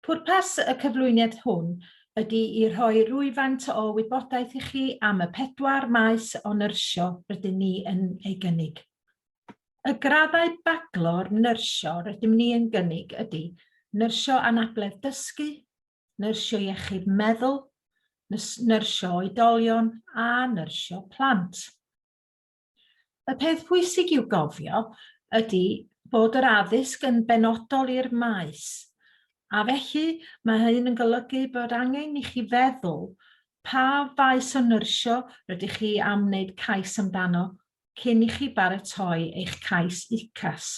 Pwrpas y cyflwyniad hwn ydy i rhoi rhywfaint o wybodaeth i chi am y pedwar maes o nyrsio rydyn ni yn ei gynnig. Y graddau baglor nyrsio rydym ni yn gynnig ydy nyrsio anabledd dysgu, nyrsio iechyd meddwl, nyrsio oedolion a nyrsio plant. Y peth pwysig i'w gofio ydy bod yr addysg yn benodol i'r maes, a felly mae hyn yn golygu bod angen i chi feddwl pa faes o nyrsio rydych chi am wneud cais amdano cyn i chi baratoi eich cais UCAS,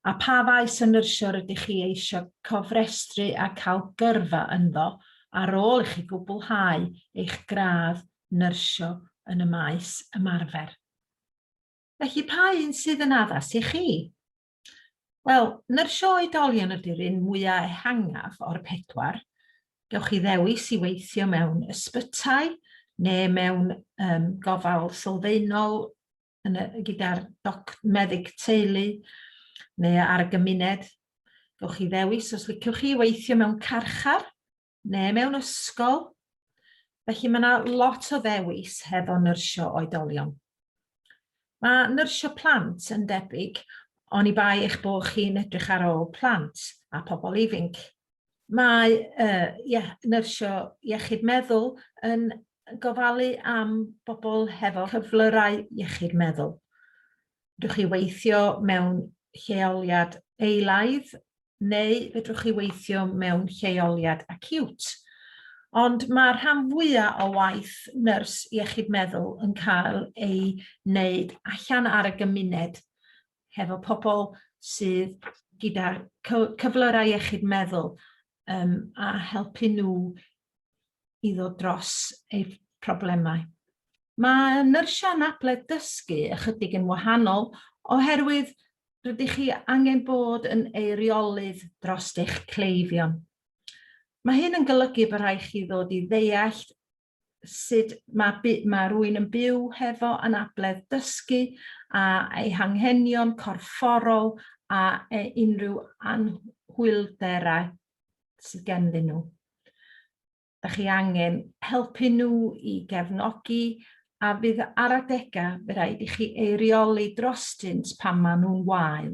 a pha faes o nyrsio rydych chi eisiau cofrestru a cael gyrfa ynddo ar ôl i chi gwblhau eich gradd nyrsio yn y maes ymarfer. Felly, pa un sydd yn addas i chi? Wel, nyrsio oedolion ydy'r un mwyaf ehangaf o'r pedwar. Gewch chi ddewis i weithio mewn ysbytai neu mewn um, gofal sylfaenol gyda'r meddyg teulu neu ar y gymuned. Gewch chi ddewis os liciwch chi weithio mewn carchar neu mewn ysgol. Felly mae yna lot o ddewis hefo nyrsio oedolion. Mae nyrsio plant yn debyg ond i bai eich bod chi'n edrych ar ôl plant a pobl ifinc. Mae uh, ie, nyrsio iechyd meddwl yn gofalu am bobl hefo cyflyrau iechyd meddwl. Fedrwch chi weithio mewn lleoliad eilaidd neu fedrwch chi weithio mewn lleoliad acute. Ond mae rhan fwyaf o waith nyrs iechyd meddwl yn cael ei wneud allan ar y gymuned, hefo pobl sydd gyda cyflyrau iechyd meddwl um, a helpu nhw i ddod dros eu problemau. Mae nyrsiau anabledd dysgu ychydig yn wahanol oherwydd rydych chi angen bod yn eiriolydd dros eich cleifion. Mae hyn yn golygu bod rhaid chi ddod i ddeall sut mae, mae rwy'n yn byw hefo anabledd dysgu a ei hanghenion corfforol a e unrhyw anhwylderau sydd genddyn nhw. Dych chi angen helpu nhw i gefnogi a fydd ar adegau fe rhaid i chi eirioli drostynt pan maen nhw'n wael.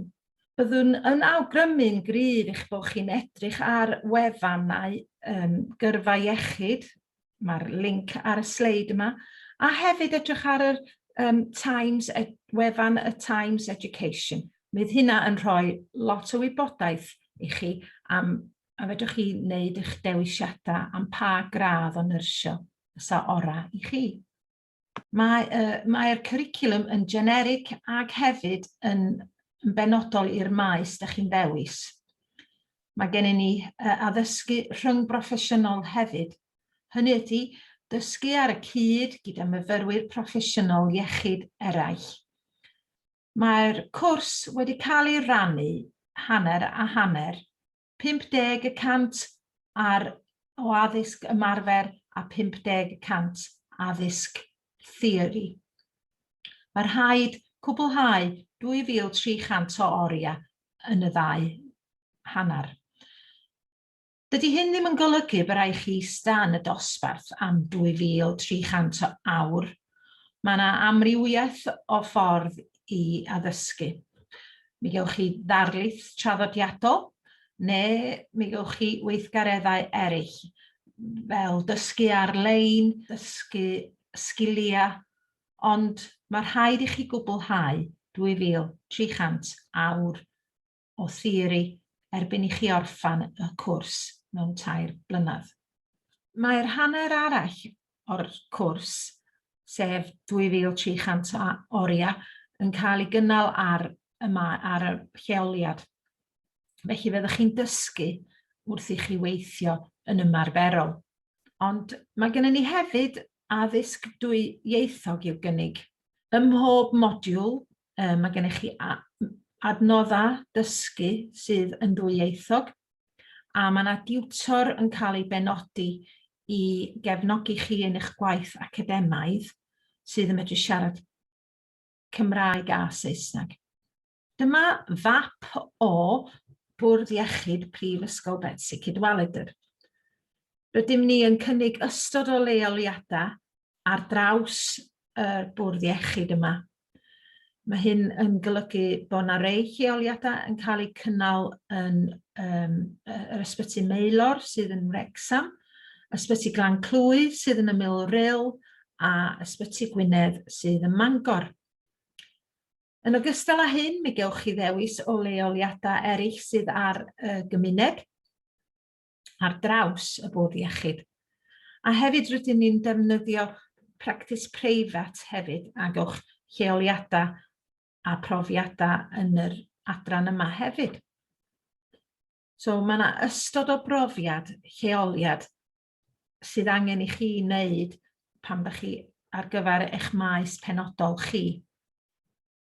Byddwn yn awgrymu'n gryf eich bod chi'n edrych ar wefannau um, gyrfa iechyd, mae'r link ar y sleid yma, a hefyd edrych ar yr um, Times, ed, wefan y Times Education. Bydd hynna yn rhoi lot o wybodaeth i chi am A fedrwch chi wneud eich dewisiadau am pa gradd o nyrsio fysa orau i chi. Mae'r uh, mae cwricwlwm yn generig ac hefyd yn, yn benodol i'r maes da chi'n ddewis. Mae gennym ni uh, addysgu rhwng broffesiynol hefyd. Hynny ydy, dysgu ar y cyd gyda myfyrwyr proffesiynol iechyd eraill. Mae'r cwrs wedi cael ei rannu hanner a hanner, 50 y cant ar o addysg ymarfer a 50 y cant addysg theori. Mae rhaid cwblhau 2,300 o oriau yn y ddau hanner. Dydy hyn ddim yn golygu y byrai chi ista yn y dosbarth am 2,300 o awr. Mae yna amrywiaeth o ffordd i addysgu. Mi gewch chi ddarlith traddodiadol, neu mi gewch chi weithgareddau eraill, fel dysgu ar-lein, dysgu sgiliau, ond mae rhaid i chi gwblhau 2,300 awr o theori erbyn i chi orffen y cwrs mewn tair blynedd. Mae'r hanner arall o'r cwrs, sef 2300 o oriau, yn cael ei gynnal ar y, ar y lleoliad. Felly fyddwch chi'n dysgu wrth i chi weithio yn ymarferol. Ond mae gennym ni hefyd addysg dwy ieithog i'w gynnig. Ym mhob modiwl Um, mae gennych chi adnoddau dysgu sydd yn ddwyieithog, a mae yna diwtor yn cael ei benodi i gefnogi chi yn eich gwaith academaidd sydd yn medru siarad Cymraeg a Saesneg. Dyma fap o Bwrdd Iechyd Prifysgol Betsi Cadwaladr. Rydym ni yn cynnig ystod o leoliadau ar draws yr bwrdd iechyd yma. Mae hyn yn golygu bod yna rei lleoliadau yn cael eu cynnal yn um, yr ysbyty Meilor sydd yn Wrexham, ysbyty Glan Clwy sydd yn y Mil Ril a ysbyty Gwynedd sydd yn Mangor. Yn ogystal â hyn, mi gewch chi ddewis o leoliadau eraill sydd ar y gymuned. ar draws y bwrdd iechyd. A hefyd rydyn ni'n defnyddio practis preifat hefyd a gewch lleoliadau a profiadau yn yr adran yma hefyd. So mae yna ystod o brofiad, lleoliad sydd angen i chi wneud pan ydych chi ar gyfer eich maes penodol chi.